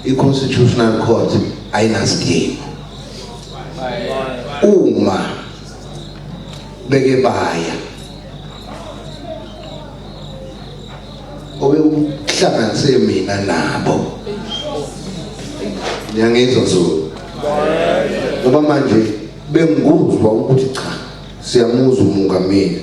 i-constitutional court ayinasidingo uma beke baya obekuhlanganise mina nabo ngiyangizwa zulu ngoba manje bengikuzwa ukuthi cha siyamuzwa umungameli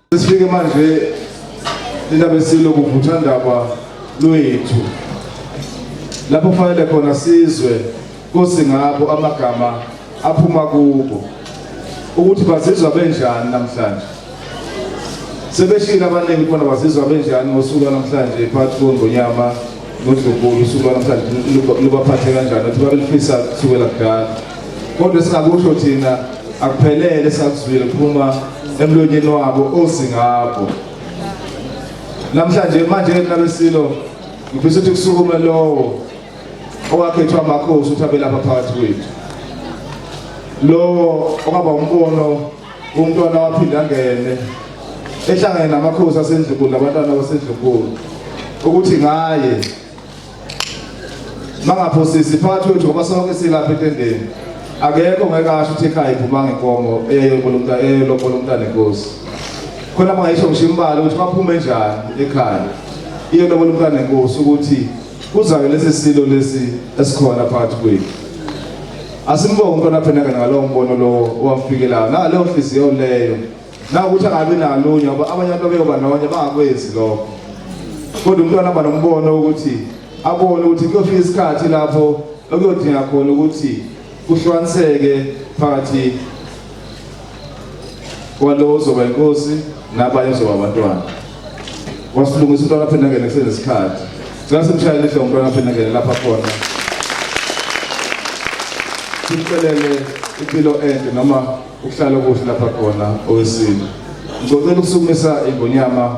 Sifike manje lina besilo kuvuthandaba lwethu lapho kufanele khona sizwe kosi ngabo amagama aphuma kubo ukuthi bazizwa benjani namhlanje sebeshila abaningi khona bazizwa benjani ngosuku namhlanje phakathi kongonyama nodlubulu usuku lwanamhlanje lubaphathe kanjani ukuthi babelifisa kusukela kudala kodwa esingakusho thina akuphelele esakuzwile kuphuma emlonyeni wabo ozi ngabo namhlanje manje nabesilo ngifisa ukuthi kusukume lowo owakhethwa amakhosi ukuthi abelapha phakathi kwethu lowo okwaba umbono umntwana waphinde angene ehlangene namakhosi asendlunkulu nabantwana basendlunkulu ukuthi ngaye mangaphosisi phakathi kwethu ngoba sonke silapha etendeni akekho ngeke asho ukuthi ekhaya iphumanga inkomo eyelobolomta eyelobolomntana enkosi khona mangayisho ngisho imbala ukuthi baphume njani ekhaya iyelobolomntana enkosi ukuthi kuzake lesi silo lesi esikhona phakathi kwethu Asimbonge umntwana phenaka ngalowo mbono lowo owafikelayo naleyo nhliziyo leyo nakuthi angabi nalunye ngoba abanye abantu abeyoba nonye bangakwenzi lokho kodwa umntwana aba nombono wokuthi abone ukuthi kuyofika isikhathi lapho okuyodinga khona ukuthi kuhlukaniseke phakathi kwalowo ozoba inkosi nabanye ozoba abantwana wasilungisa umntwana aphinde angene kusenesikhathi cela simshayele ihle umntwana aphinde angene lapha khona simcelele impilo ende noma ukuhlala okuhle lapha khona owesini ngicocela ukusukumisa ingonyama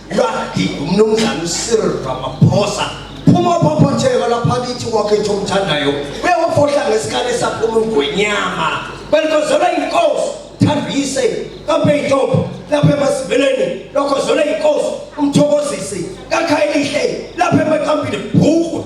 Lwakhe umnumzane uCyril Ramaphosa phuma phophotheka lapha kithi kwakhe nje omthandayo uyawafohla ngesikali esaphuma ugwenyama belikozela inkosi thambise kambe intombi lapha emasiveleni lokho zona inkosi umthokozisi kakhayelihle lapha emaqambini bhuku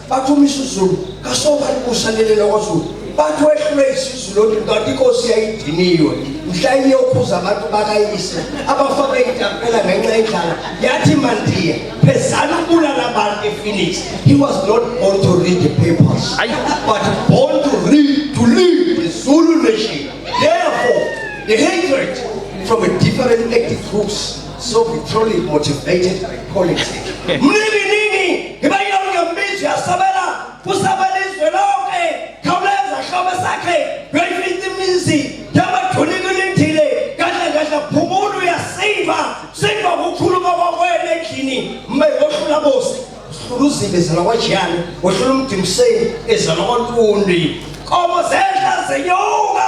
bathi uma isizulu kasobani kusanelela kwazulu bathi wehlule isizulu ontu kanti inkosi yayidiniwe mhla iyokhuza abantu bakayise abafake itampela ngenxa yendlala yathi mandiya phezana ukubulala abantu ephoenix he was not born to read the papers but born to read to live the zulu nation therefore the hatred from a different ethnic groups So we truly motivated by politics. Mnini nini iba yonke mbizi yasabela kusabela izwe lonke khawuleza hlobo sakhe yoyifithi imizi yabathuli kulindile kahle kahle phumula uyasinda sinda kukhuluma kwakwena endlini mbe wohlula bosi uhlula uzibe ezalwa kwajiyane wohlula umdimiseni ezalwa kwantundi komo zedla zenyuka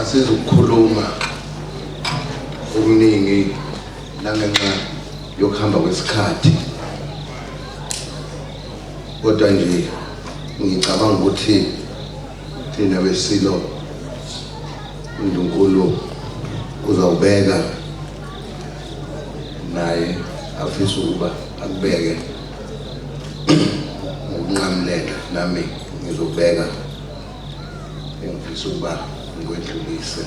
asizukukhuluma okuningi nangenxa yokuhamba kwesikhathi kodwa nje ngicabanga ukuthi thina besilo uNdlunkulu uzawubeka naye afisa ukuba akubeke ngokunqamuleka nami ngizobeka engifisa ukuba ngikwedlulise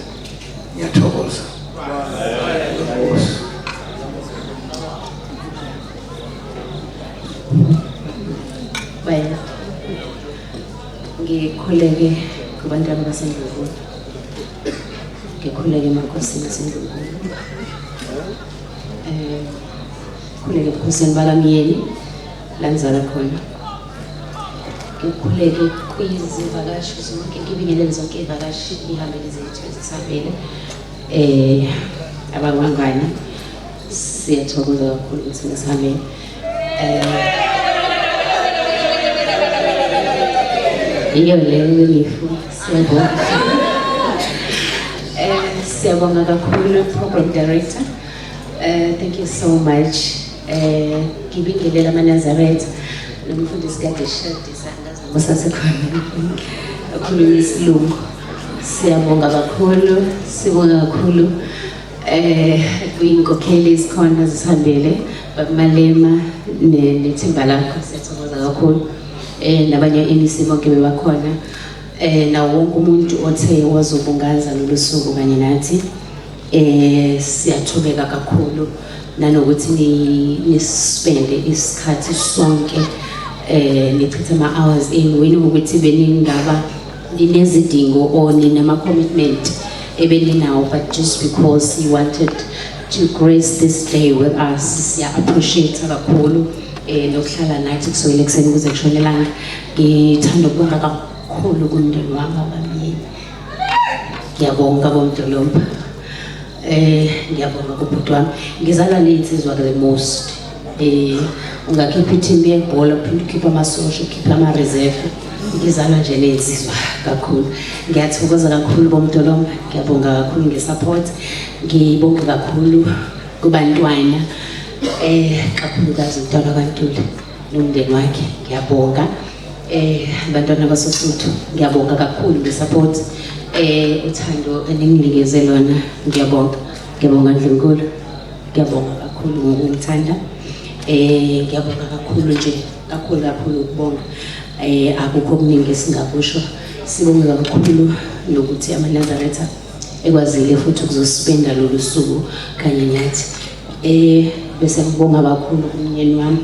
ngiyathokoza Baya. Ngikhuleke kubantwana baseNdlunkulu. Ngikhuleke emakhosini aseNdlunkulu. Eh, khuleke ebukhosini bakamyeni. Lanzala khona ukhuleke kwizivakashi zonke ngibingelele zonke iy'vakashi ihambele zethu ezisabele eh abangangani siyathokoza kakhulu ukuthi nisihambele eh iyo leyo imifu siyabonga eh siyabonga kakhulu program director eh thank you so much Eh ngibingelela amaNazaretha nomfundisi kade shadisa ngazi noma sasekhona okhuluma isilungu siyabonga kakhulu sibonga kakhulu eh kwinkokheli isikhona zisihambele bakumalema nethimba lakho siyathokoza kakhulu eh nabanye MEC bonke bebakhona eh nawo wonke umuntu othe wazobungaza lolu suku kanye nathi Eh siyathobeka kakhulu nanokuthi ni nispende isikhathi sonke eh nichithe ama hours in wena ukuthi beningaba ninezidingo or ninama commitment ebeninawo but just because you wanted to grace this day with us siya appreciate kakhulu eh nokuhlala nathi kusukela ekuseni kuze kushonelanga ngithanda ukubonga kakhulu kumndeni wami abamyeni ngiyabonga bomdolomba eh ngiyabonga kubhuti wami ngizalwa ney'nsizwa the most eh ungakhipha ithimba yebhola uphinde ukhiphe amasosha ukhiphe ama-reserve ngizalwa nje ney'nsizwa kakhulu ngiyathokoza kakhulu bomdolomba ngiyabonga kakhulu nge-support ngibonge kakhulu kubantwana eh kakhulukazi umntwana kwantula nomndeni wakhe ngiyabonga Eh bantwana basoSuthu ngiyabonga kakhulu ngesupport eh uthando eninginikeze lona ngiyabonga ngiyabonga Ndlunkulu ngiyabonga kakhulu ngokungithanda eh ngiyabonga kakhulu nje kakhulu kakhulu ukubonga eh akukho okuningi esingakusho sibonge kakhulu nokuthi amanazaretha ekwazile futhi ukuzosipenda lolu suku kanye nathi eh bese ngibonga kakhulu kumnyeni wami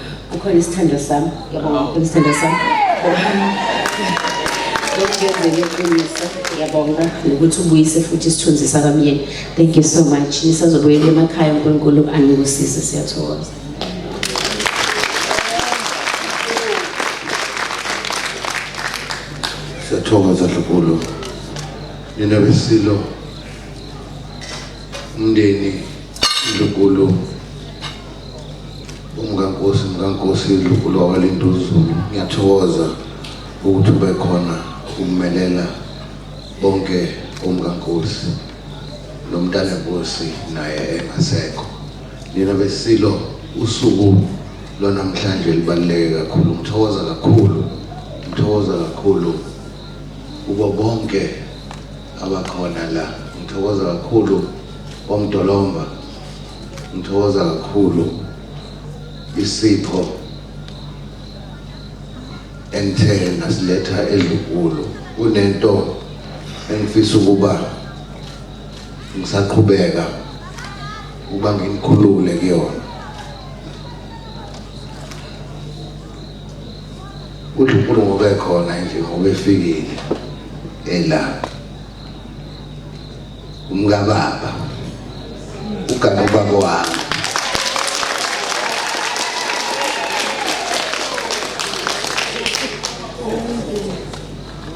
Kukhona isithandwa sami. Yabonga kukhona isithandwa sami. Ngiyenzele iqiniso. Ngiyabonga nokuthi ubuyise futhi isithunzi sakamyeni. Thank you so much. Nisazobuyela emakhaya uNkulunkulu anibusise siyathokoza. Siyathokoza Dlubulu. Nina besilo umndeni Dlubulu umkankosi mkankosi lukhulu wakwalintuzulu ngiyathokoza ukuthi ube khona ukumelela bonke umkankosi nomntana nkosi naye engasekho nina besilo usuku lwanamhlanje libaluleke kakhulu ngithokoza kakhulu ngithokoza kakhulu kubo bonke abakhona la ngithokoza kakhulu omdolomba Ngithokoza kakhulu isipho engithe nasiletha eLugulo kunento engifisa ukuba ngisaqhubeka ukuba ngimkhulule kuyona uthi uNkulunkulu ngobe khona nje ngobe efikile ela umkababa ugama ubaba wami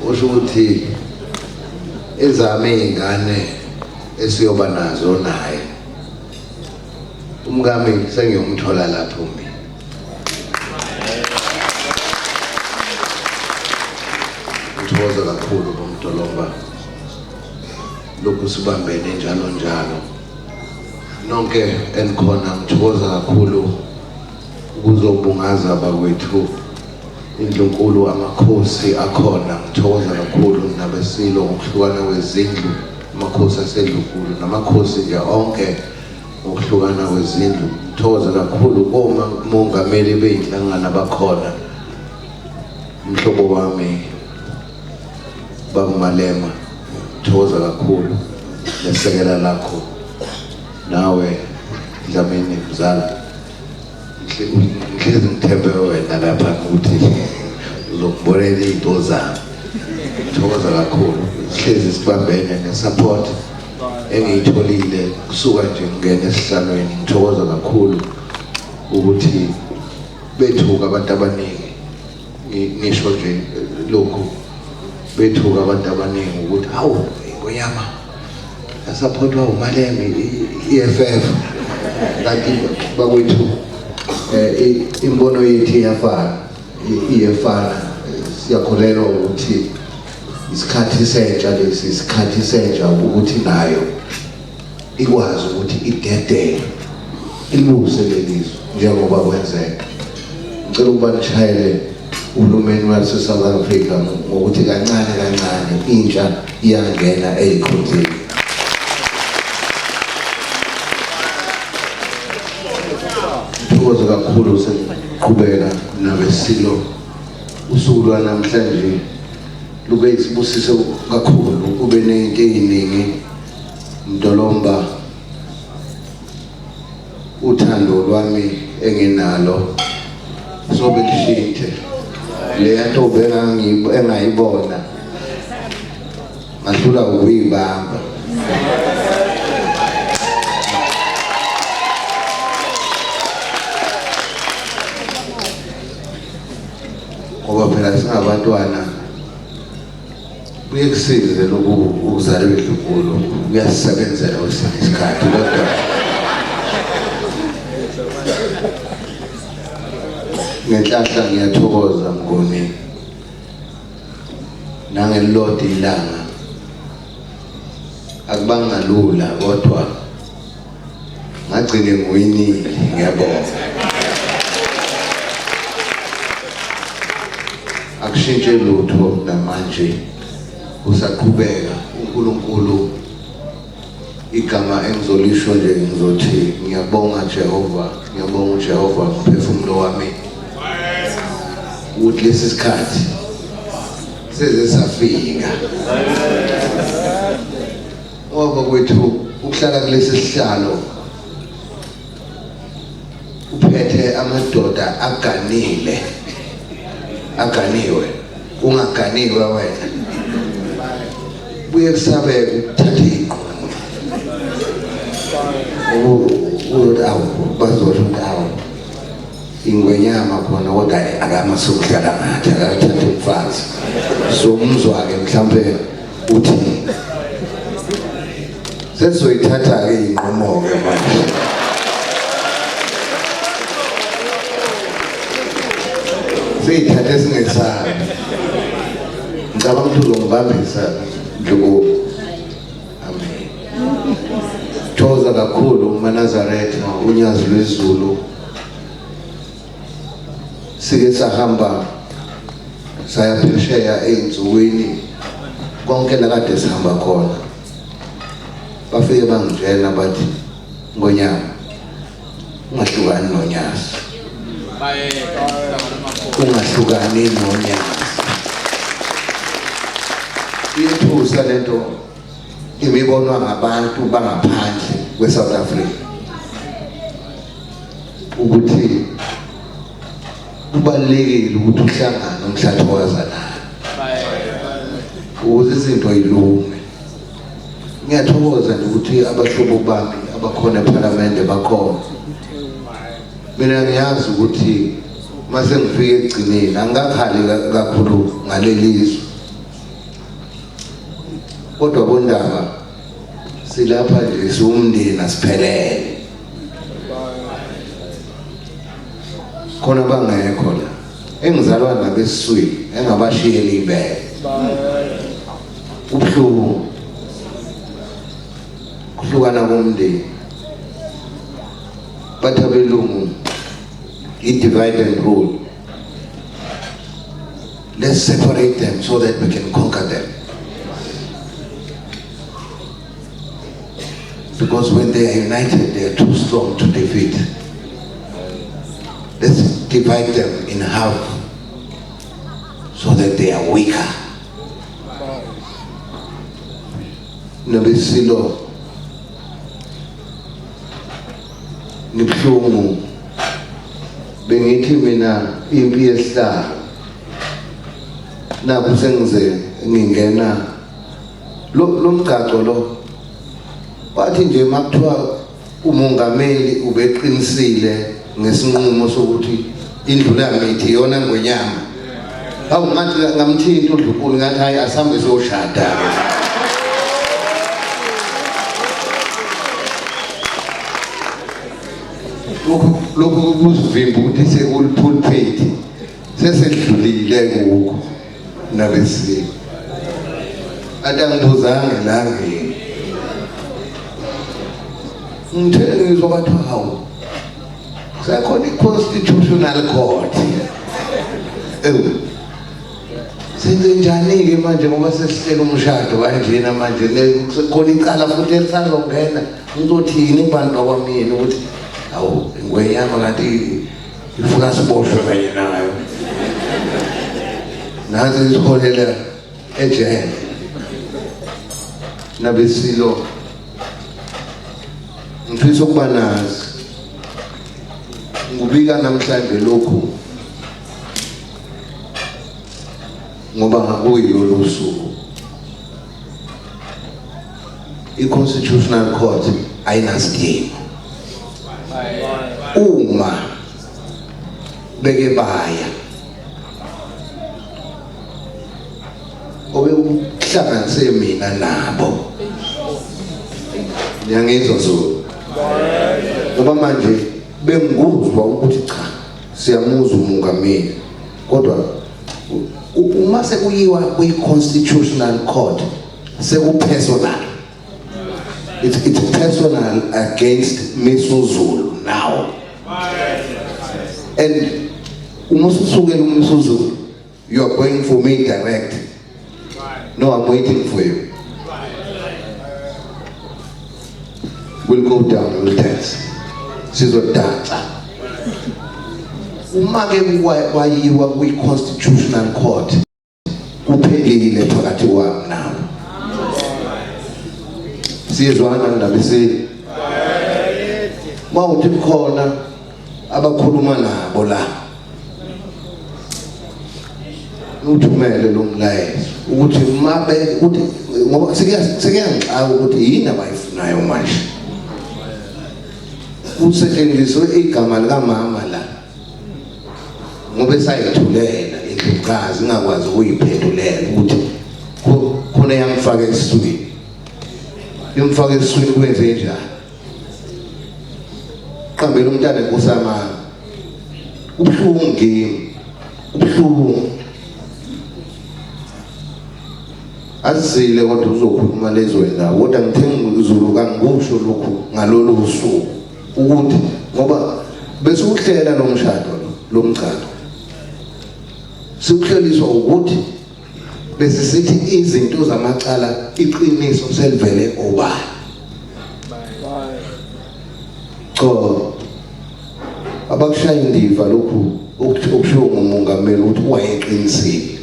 usho ukuthi ezami iy'ngane esiyoba nazo naye umkami sengiyomthola lapho mina ngithokoza kakhulu bomdolomba lokhu sibambene njalo njalo nonke enikhona ngithokoza kakhulu ukuzobungaza bakwethu indlunkulu amakhosi akhona ngithokoza kakhulu nabesilo ngokuhlukana kwezindlu amakhosi asedlunkulu namakhosi nje onke ngokuhlukana kwezindlu ngithokoza kakhulu koma mongameli beyinhlangano abakhona umhlobo wami Baba Malema thokoza kakhulu lesekela lakho nawe Dlamini mzala ngihlezi ngithembe wena lapha ukuthi uzokubonela izinto zami thokoza kakhulu sihlezi sibambene nesupport engiyitholile kusuka nje ngingena esihlalweni ngithokoza kakhulu ukuthi bethuka abantu abaningi ngisho nje lokhu bethuka abantu abaningi ukuthi hawu ingonyama yasaphothwa umaleme i-EFF kanti bakwethu um imbono yethu iyafana iyefana siyakholelwa ukuthi isikhathi sentsha lesi isikhathi sentsha ukuthi nayo ikwazi ukuthi idedele ilungise lelizwe njengoba kwenzeka ngicela ukuba nishayele uhulumeni wase-south africa ngokuthi kancane kancane intsha iyangena eyikhonzini thokoze kakhulu sekuqhubeka nabesilo usuku lwanamhlanje lube isibusiso kakhulu kube ney'nto ey'ningi Mdolomba uthando lwami enginalo sobe kushintshe leya ntombi engayibona ngahlula ukuyibamba ngoba phela singabantwana Kuye kusize lokhu ukuzala indlunkulu kuyasisebenzela kwesinye isikhathi kodwa ngenhlahla ngiyathokoza mngoni nangelilodwa ilanga akubangalula kodwa ngagcine ngiwinile ngiyabonga akushintshe lutho namanje usaqhubeka uNkulunkulu igama engizolisho nje ngizothi ngiyabonga Jehova ngiyabonga uJehova umphefumulo wami ukuthi lesi sikhathi seze safika Ngoba kwethu ukuhlala kulesi sihlalo uphethe amadoda aganile aganiwe ungaganiwe wena buye kusabe ukuthatha iqomo ukuthi awu bazosho ukuthi awu ingwenyama khona kodwa akamasukuhlala ngathi akathatha umfazi somuzwa-ke mhlawumbe uthi sesizoyithatha-ke inqumo-ke manje siyithathe singesabi ngicabanga ukuthi uzongibambisa ndlukuku amen thokoza kakhulu umanazaretha unyazi lwezulu sike sahamba saya phesheya ey'nsukwini konke lakade sihamba khona bafike bangitshela bathi ngonyaka ungahlukani nonyazi ungahlukani nonyazi iyethusa le nto imibonwa ngabantu bangaphandle kwe-south africa ukuthi kubalulekile ukuthi uhlangane umhlathi owazanayo ukuze izinto yilunge ngiyathokoza nje ukuthi abahlobo bami abakhona ephalamende bakhona mina ngiyazi ukuthi mase ngifike ekugcineni angikakhali kakhulu ngaleli zwe kodwa bondaba silapha nje siwumndeni asiphelele khona bangekho la engizalwa nabo esiswini engabashiyela ibele ubuhlungu kuhlukana komndeni bathi abelungu i-divide and rule let's separate them so that we can conquer them because when they are united they are too strong to defeat let's divide them in half so that they are weaker nobesilo ngibuhlungu bengithi mina impi yesihlalo nakho sengize ngingena lomgcagco lo wathi nje makuthiwa umongameli ubeqinisile ngesinqumo sokuthi indlu lamithi iyona ngwenyama hawu ngathi ngamthinta udlukulu ngathi hayi asihambe siyoshada lokhu lokhu kuzivimba ukuthi sekulipulphethi sesedlulile kuko nabesiko atangibuzanga langeni ngithe ngizwa bathi hawu kusekhona i-constitutional court ewu senzenjani-ke manje ngoba sesihlela umshado kanjena manje kusekhona icala futhi elisazongena ngizothini ibhanti bakwamyeni ukuthi hawu ingwenyama kanti ngifuna siboshwe kanye nayo nazi ngiziholela ejele nabesilo ngifisa ukuba nazi ngubika namhlanje lokhu ngoba ngakuyo lolusuku i-constitutional court ayinasidingo uma beke baya obekuhlanganise mina nabo ngiyangizwa zulu ngoba manje bengikuzwa ukuthi cha siyamuzwa umungameli kodwa uma sekuyiwa kwi-constitutional court sekupersonal it's, it's personal against misuzulu now and uma ususukela umsuzulu you are going for me direct No, I'm waiting for you. We'll go down, we'll dance. Sizodansa. Uma ke kwayiwa kwi-constitutional court kuphelile phakathi kwami nawe. Sizwana ndaba isini. Uma uthi khona abakhuluma nabo la uthumele lo mlayezo ukuthi mabe ukuthi ngoba sekuyangixaka ukuthi yini abayifunayo manje kusetshenziswe igama likamama la ngoba esayithulela indlukazi ingakwazi ukuyiphendulela ukuthi khona yamfaka esiswini imfaka esiswini kwenze njani qambela umntana inkosi yamanga ubuhlungu ngimi ubuhlungu azile kodwa uzokhuluma lezwe la kodwa ngithenga izulu kangikusho lokhu ngalolu usuku ukuthi ngoba bese uhlela lo mshado lo mgcado siwuhleliswa ukuthi Bese sithi izinto zamacala iqiniso selivele obani. Cho abakushaya indiva lokhu okushiwo ngumongameli ukuthi wayeqinisile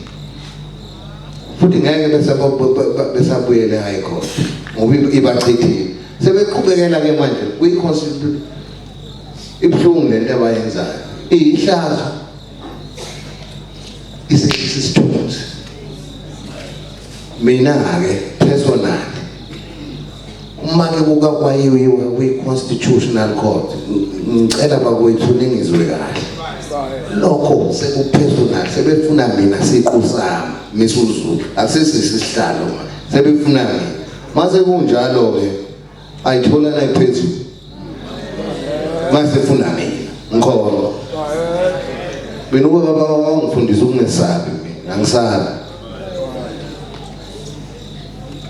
futhi ngeke bese besabuyele high court ngoba ibachithile sebeqhubekela ke manje kwi-constitution ibuhlungu lento abayenzayo iyihlazo isehlisa isithunzi mina-ke personally uma-ke kukakwayiwiwe kwi-constitutional court ngicela bakwethu ningizwe kahle lokho sekupersonal sebefuna mina siqu sami misuzulu akusesisihlalo sebefuna mina mase kunjalo-ke ayithola la iphezulu mase funa mina ngikholwa mina ubaba baba wangifundisa ukungesabi mina angisabi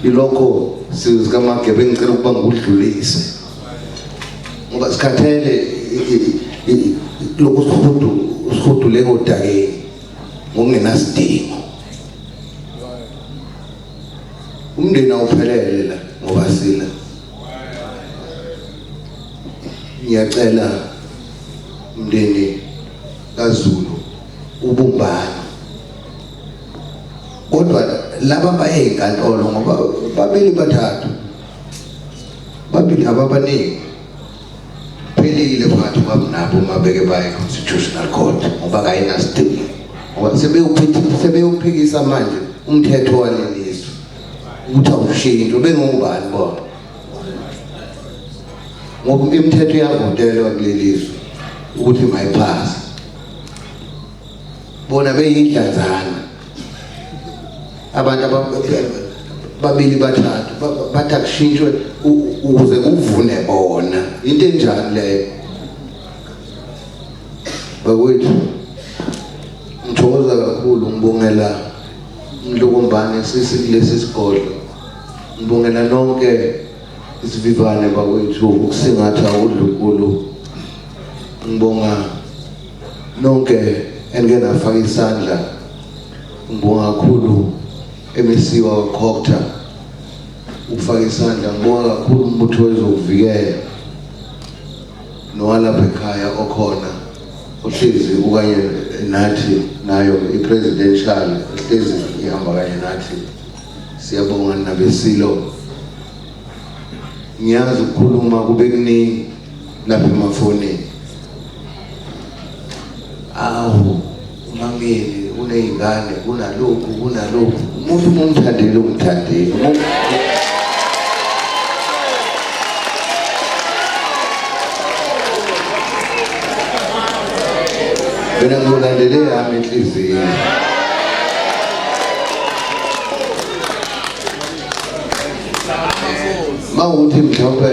ilokho sizika magebe ngicela ukuba ngikudlulise ngoba sikhathele lokhu sihudu sihudu leko dakeni ngokungenasidingo umndeni awuphelele la ngoba sila ngiyacela umndeni kaZulu ubumbana kodwa laba baye enkantolo ngoba babili bathathu babili ababaningi Phelile phakathi kwabo nabo uma beke baye constitutional court ngoba kayinasidingo ngoba sebewuphikisa sebewuphikisa manje umthetho walelizwe ukuthi awushintshwe bengobani bona ngoba imithetho yavotelwa kulelizwe ukuthi mayiphase bona beyindlanzana abantu babili bathathu bathi akushintshwe ukuze kuvune bona into enjani leyo bakwethu ngithokoza kakhulu ngibongela mlokombane sisi kulesi sigodlo ngibongela nonke isivivane bakwethu ukusingatha udlukulu ngibonga nonke enike nafaka isandla ngibonga kakhulu emesiwa wakhokta ukufaka isandla ngibonga kakhulu umbutho wezokuvikela nowalapha ekhaya okhona ohlezi ukanye nathi nayo i-presidential ehlezi ihamba kanye nathi siyabonga nabesilo ngiyazi ukukhuluma kube kuningi lapha emafonini awu umangeni uney'ngane kunalokhu kunalokhu umuntu uma umthandile umthandile mina ngizolandele yami inhliziyo mawukuthi mhlawumbe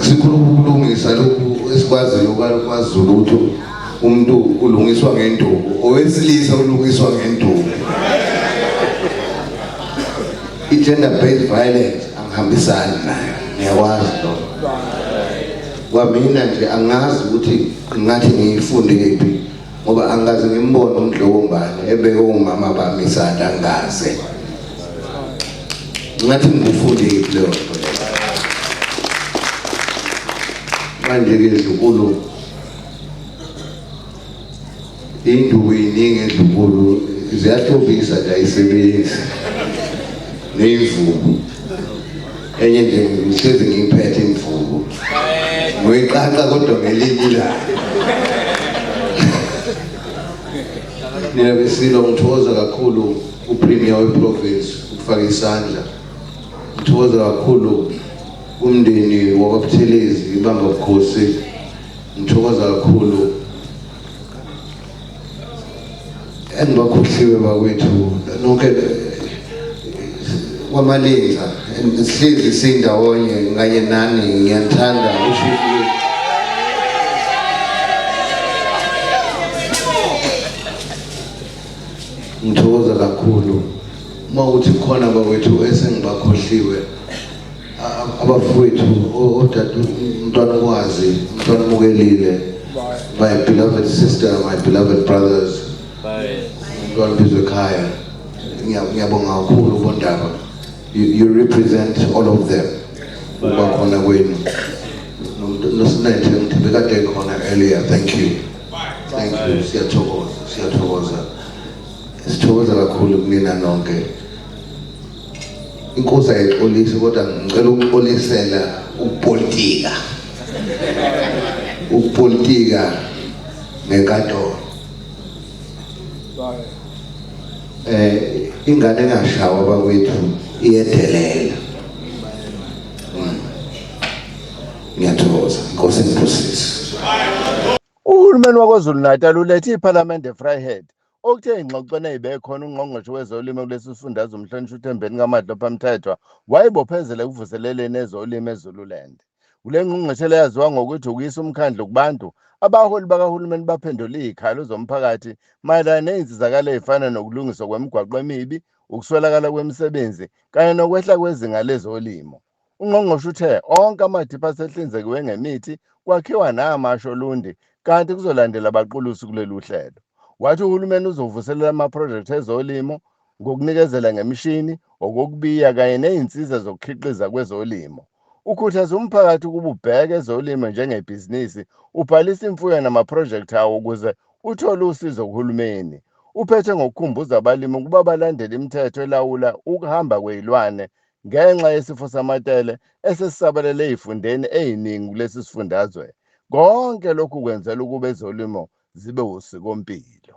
sikhuluma ukulungisa lokhu esikwaziyo kwaZulu ukuthi umuntu ulungiswa ngenduku owesilisa ulungiswa ngenduku i-gender based violence angihambisani nayo ngiyakwazi lokho kwamina nje angazi ukuthi ngathi ngiyifundephi ngoba angaze ngimbone umdlokombane ebeke umama bami isandla angaze ngathi ngikufundile leyo nto manje-ke ndlunkulu induku iningi endlunkulu ziyahlobisa nje ayisebenzi neyimvubu enye nje ngihlezi ngiyiphethe imvubu ngoyiqaqa kodwa ngelinye ilanga mina besilo ngithokoza kakhulu upremier weprovince ukufaka isandla ngithokoza kakhulu umndeni wakwabuthelezi ibamba bukhosi ngithokoza kakhulu and bakhohliwe bakwethu nonke kwamalinza sihlezi sindawonye nganye nani ngiyathanda ushifiwe ngithokoza kakhulu uma uthi khona bakwethu esengibakhohliwe abafowethu odade umntwana okwazi umntwana omukelile my beloved sister my beloved brothers umntwana bizwe ekhaya ngiyabonga kakhulu ubondaba you represent all of them uba khona kwenu nosinethe ngithi bekade khona earlier thank you thank you siyathokoza siyathokoza sithokoza kakhulu kunina nonke inkosi ayixolise kodwa ngicela ukuxolisela ukupolitika ukupolitika ngenkantolo eh ingane engashawa bakwethu iyedelela hmm. ngiyathokoza inkosi inibusise uhulumeni wakwazulu natal ulethe iphalamende efryhead Okuthe engxoxweni eyibekhona uNgqongqoshe wezoLimo kulesi sifundazwe uMhlonishwa uThembeni kaMadlopha Mthethwa wayibophezela ekuvuseleleni ezolimo eZululand. Kule ngqungqeshela yaziwa ngokuthi ukuyisa umkhandlu kubantu, abaholi bakahulumeni baphendule izikhalo zomphakathi mayelana nezinsizakalo ezifana nokulungiswa kwemigwaqo emibi, ukuswelakala kwemisebenzi kanye nokwehla kwezinga lezolimo. Ungqongqoshe uthe onke amadipha asehlinzekiwe ngemithi kwakhiwa namasha olundi kanti kuzolandela abaqulusi kuleli uhlelo. Wathi uhulumeni uzovuselela amaphrojekthi ezolimo ngokunikezela ngemishini, okokubiya kanye nezinsiza zokukhiqiza kwezolimo. Ukhuthaza umphakathi ukuba ubheke ezolimo njengebhizinisi, ubhalise imfuyo namaphrojekthi awo ukuze uthole usizo kuhulumeni. Uphethe ngokukhumbuza abalimi ukuba balandele imithetho elawula ukuhamba kwezilwane Ngenxa yesifo samatele esesisabalele ezifundeni eziningi kulesi sifundazwe, konke lokhu kwenzela ukuba ezolimo zibe wusikompilo.